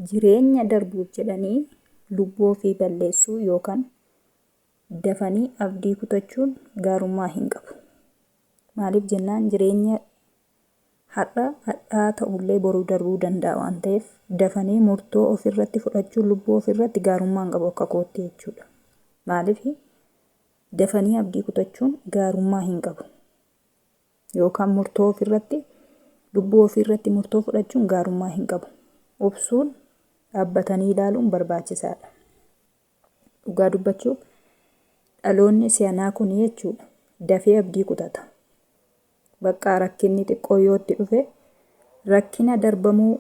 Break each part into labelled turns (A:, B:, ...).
A: Jireenya darbuuf jedhanii lubbuu ofii balleessuu yookan dafanii abdii kutachuun gaarummaa hin qabu. Maaliif jennaan jireenya har'a hadhaa ta'ullee boruu darbuu danda'a waan ta'eef dafanii murtoo ofirratti fudhachuun lubbuu ofirratti gaarummaa hin qabu akka kootti jechuudha. Maaliif dafanii abdii kutachuun gaarummaa hin qabu. yookaan murtoo ofirratti lubbuu ofii irratti murtoo fudhachuun gaarummaa hin qabu. Obsuun dhaabbatanii ilaaluun barbaachisaadha. Dhugaa dubbachuuf dhaloonni si'anaa kun jechuudha dafee abdii kutata. Baqqaa rakkinni xiqqoo yoo itti dhufe rakkina darbamuu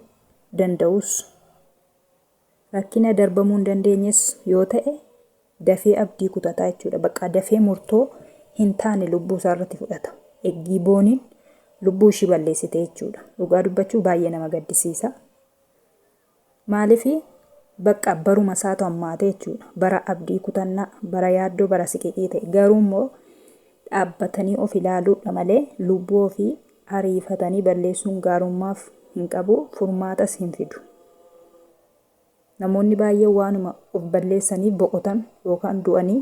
A: danda'us Rakkina darbamuu hin dandeenyes yoo ta'e dafee abdii kutata jechuudha. Baqqaa dafee murtoo hin taane lubbuu isaa irratti fudhata. Eggii booniin lubbuu ishii balleessite jechuudha. Dhugaa dubbachuu baay'ee nama gaddisiisa. Maaliif bakka baruma isaatu hammaate jechuudha. Bara abdii kutannaa, bara yaaddoo, bara siqiqii ta'e. Garuu immoo dhaabbatanii of ilaaluudha malee lubbuu ofii Ariifatanii balleessuun gaarummaaf hin qabu, furmaatas hin fidu. Namoonni baay'een waanuma of balleessanii boqotan yookaan du'anii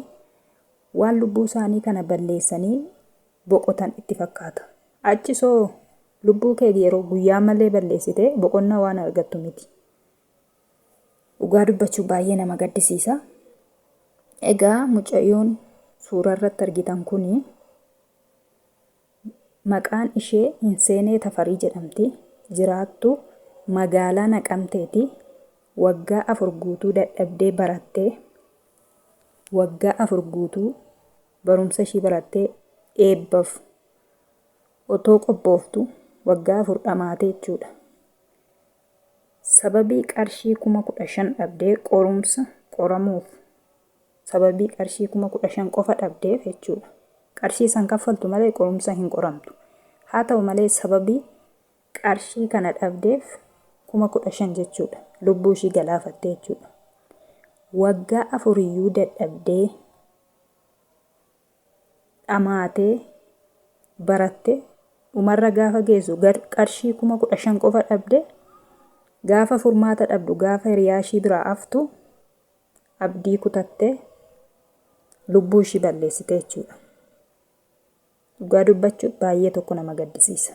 A: waan lubbuu isaanii kana balleessanii boqotan itti fakkaata. Achis hoo lubbuu kee yeroo guyyaa malee balleessite boqonnaa waan argattu miti. Dhugaa dubbachuu baay'ee nama gaddisiisa. Egaa mucayyoon suuraa irratti argitan kuni maqaan ishee Hinseenee Tafarii jedhamti. Jiraattuu magaalaa Naqamteeti. Waggaa afur guutuu dadhabdee barattee waggaa afur guutuu barumsa ishii barattee eebbaf otoo qophooftu waggaa afur dhamaate jechuudha. Sababii qarshii kuma kudha shan dhabdee qorumsa qoramuuf Sababii qarshii 15,000 qofa dhabdeef jechuudha. Qarshii san kaffaltu malee qorumsa hin qoramtu. Haa ta'u malee sababii qarshii kana dhabdeef 15,000 jechuudha. Lubbuu ishii galaafattee jechuudha. Waggaa afuriyyuu dadhabdee dhamaatee baratte dhumarra gaafa geessu qarshii 15,000 qofa dhabdee gaafa furmaata dhabdu gaafa hiriyaa ishii biraa aftu abdii kutattee lubbuu ishii balleessite jechuudha. Dhugaa dubbachuuf baay'ee tokko nama gaddisiisa.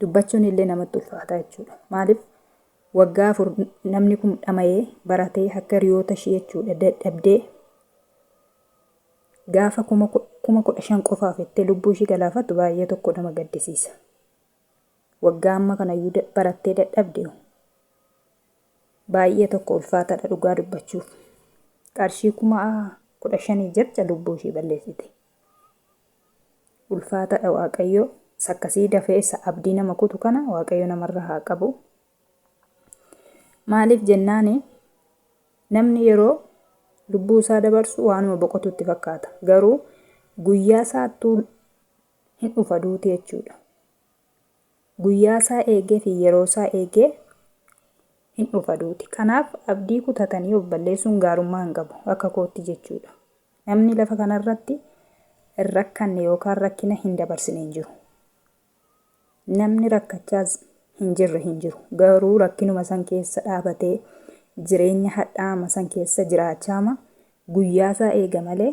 A: Dubbachuun illee namatti ulfaata jechuudha. Maaliif waggaa afur namni kun dhama'ee baratee akka hiriyoota ishii jechuudha dadhabdee gaafa kuma ku- kuma kudha shan qofaaf jettee lubbuu ishii galaafattu baay'ee tokko nama gaddisiisa. Waggaa amma kanayyuu da- barattee dadhabde Baay'ee tokko ulfaatadha dhugaa dubbachuuf. Qarshii kuma kudha shanii jecha lubbuu ishii balleessite. Ulfaatadha waaqayyoo sakkasii dafee isa abdii nama kutu kana waaqayyo namarra haa qabu. Maaliif jennaani namni yeroo lubbuu isaa dabarsu waanuma boqotutti fakkaata. Garuu guyyaa isaattuu hin dhufa duuti jechuudha. Guyyaasaa eegeefi yeroosaa eegee hin dhufa duuti. Kanaaf abdii kutatanii of balleessuun gaarummaa hin qabu. Akka kootti jechuudha. Namni lafa kanarratti hin rakkanne yookaan rakkina hin dabarsine hin jiru. Namni rakkachaas hin jirre hin jiru. Garuu rakkinuma san keessa dhaabatee jireenya hadhaa'ama san keessa jiraachaama guyyaasaa eega malee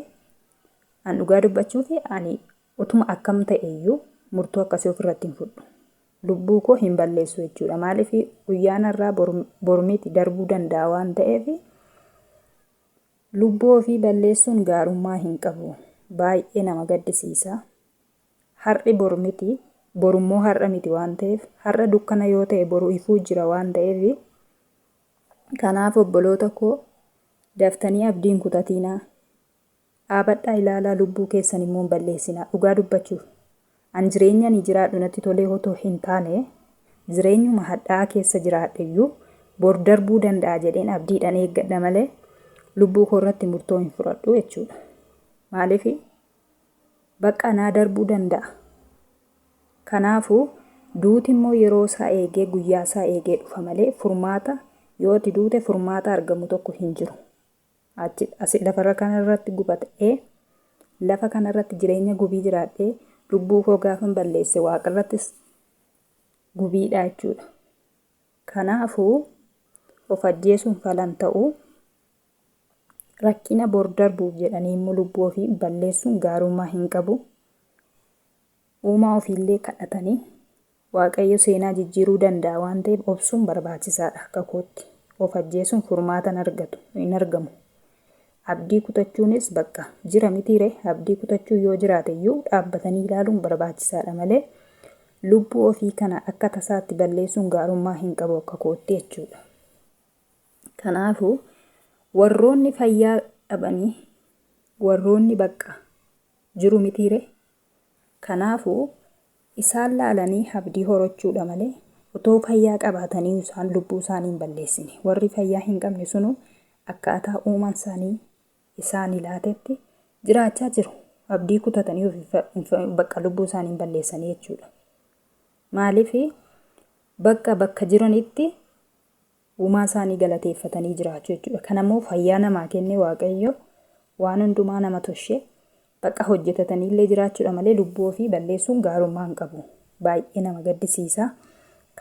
A: an dhugaa dubbachuufi ani Utuma akkam ta'e iyyuu murtoo akkasii of irratti hin fudhu. Lubbuu koo hin balleessu jechuu dha. Maaliif guyyaan har'aa bor miti darbuu danda'a waan ta'eef lubbuu ofii balleessuun gaarummaa hin qabu. Baay'ee nama gaddisiisa. Har'i bor miti bor immoo har'a miti waan ta'eef har'a dukkana yoo ta'e boru ifuu jira waan ta'eef kanaaf obboloota koo daftanii abdiin kutatiinaa. Dhaabadhaa ilaalaa lubbuu keessan immoo hin balleessinaa. Dhugaa dubbachuuf an jireenya ani jiraadhu natti tolee otoo hin taane jireenyuma hadha'aa keessa jiraadhe iyyuu bor darbuu danda'a jedheen abdiidhan eeggadha malee lubbuu koo irratti murtoo hin fudhadhu jechuudha. Maaliif baqqaa naa darbuu danda'a. Kanaafuu duuti immoo yeroo isaa eegee guyyaa isaa eegee dhufa malee furmaata yoo ati duute furmaata argamu tokko hin jiru. Achi asi lafarra kana irratti gubata'ee, lafa kana irratti jireenya gubii jiraadhee, lubbuu koo gaafan balleesse waaqa irrattis gubiidha jechuudha. Kanaafuu of ajjeesuun falan ta'u rakkina bor darbuuf jedhanii immoo lubbuu ofii balleessuun gaarummaa hin qabu. Uumaa ofiillee kadhatanii Waaqayyo seenaa jijjiiruu danda'a waan ta'eef obsuun barbaachisaadha akka kootti. Of ajjeesuun furmaata hin argatu, hin argamu. Abdii kutachuunis bakka jira mitiiree? Abdii kutachuun yoo jiraateyyuu dhaabbatanii ilaaluun barbaachisaadha malee lubbuu ofii kana akka tasaatti balleessuun gaarummaa hin qabu akka kootti jechuudha. Kanaafuu warroonni fayyaa dhabanii warroonni bakka jiru mitiiree? Kanaafuu, isaan laalanii habdii horachuu dha malee, otoo fayyaa qabaataniyu isaan lubbuu isaanii hin balleessine. Warri fayyaa hin qabne sunu akkaataa Uumaan isaanii isaani laatetti jiraachaa jiru. Abdii kutatanii of hin fa, bakka lubbuu isaanii hin balleessanii jechuu dha. Maaliif? Bakka bakka jiranitti uumaa isaanii galateeffatanii jiraachu jechuudha. Kan ammoo fayyaa namaa kenne waaqayyo waan hundumaa nama toshe baqa hojjetatanii illee jiraachuudha malee lubbuu ofii balleessuun gaarummaa hin qabu. Baay'ee nama gaddisiisa.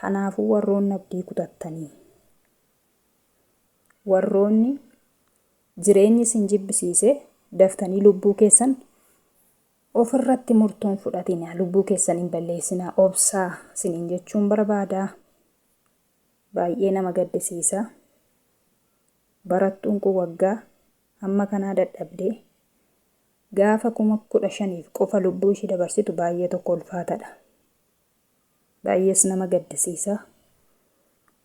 A: Kanaafuu warroonni abdii kutattanii warroonni jireenyi isin jibbisiise daftanii lubbuu keessan ofirratti murtoon fudhatinaa lubbuu keessan hin balleessinaa obsaa isiniin jechuun barbaadaa. Baay'ee nama gaddisiisa. Barattuun kun waggaa hamma kanaa dadhabdee gaafa kuma kudha shaniif qofa lubbuu ishii dabarsitu baay'ee tokko ulfaatadha. Baay'ees nama gaddisiisa.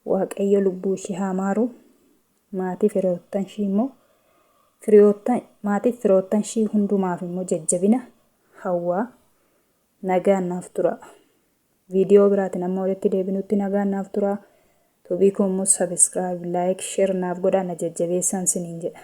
A: Waaqayyo lubbuu ishii haa maaru. Maatii firoottan ishii immoo firiyoottan maatiif firoottan ishii hundumaaf immoo jajjabina hawwaa. Nagaan naaf turaa. Viidiyoo biraatiin amma walitti deebinutti nagaan naaf turaa. Tuubii koo immoo subscribe, like, share naaf godhaa na jajjabeessaan siniin jedha.